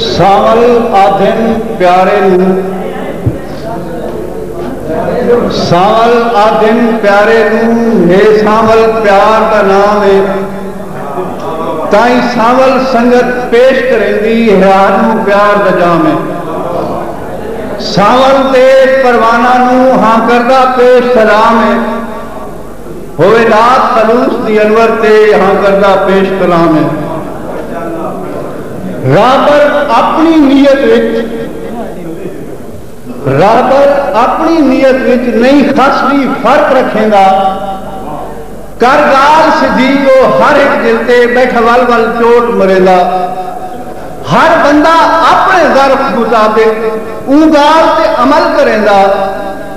ساول آدھن پیارے نوں ساول آدھن پیارے نوں ہے ساول پیار دا نام ہے تائیں ساول سنگت پیش کریندی ہیار نوں پیار دا جام ہے ساول دے پروانہ نوں ہاں کردہ پیش سلام ہے ہوئے نعت خلوص دی انور تے یہاں کردہ پیش کلام ہے۔ راہبر اپنی نیت وچ راہبر اپنی نیت وچ نئیں خس وی فرق رکھیندا کر گال سدھی او ہر ہک دل تے بیٹھا ول ول چوٹ مریندا ہر بندہ اپنے ظرف مطابق اوں گال تے عمل کریندا۔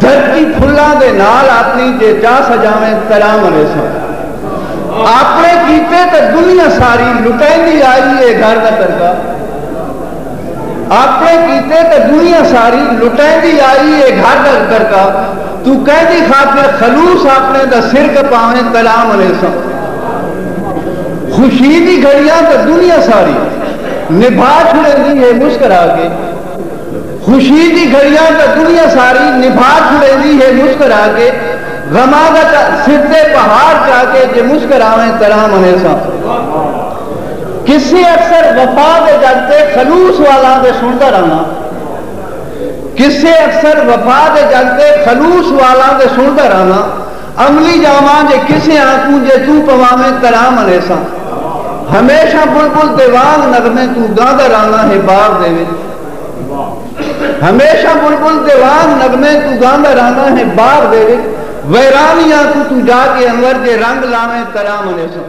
دھرتی پھلاں دے نال آپنی جے چا سجاویں تراں وریساں آپنے کیتے تاں دنیا ساری لٹیندی آئی اے گھر دا ترکا آپنے کیتے تاں دنیا ساری لٹیندی آئی اے گھر دا ترکا توں کیندی خاطر خلوص آپنے دا سر کپاویں تراں وریساں خوشی دی گھڑیاں تاں دنیا ساری نبھا چھڑیندی اے مسکرا کے۔ خوشی دی گھڑیاں تاں دنیا ساری نبھا چھڑیندی ہے مسکرا کے غماں دا تاں سر تے پہاڑ چا کے جے مسکراویں تراں منیساں قصے اکثر وفا دے جگ تے خلوص والاں دے سنڑدا رہاں قصے اکثر وفا دے جگ تے خلوص والاں دے سنڑدا رہاں املی جاواں جے کسے آنکوں جے توں پواویں کراں منیساں ہمیشہ بلبل دے وانگ نغمے توں گاندا راہواں ہے بار دے وچ ہمیشہ بلبل دے وانگ نغمے توں گاندا راہواں ہے بار دے وچ ویرانی آنکوں توں جا کے انور جے رنگ لاویں کراں منیساں۔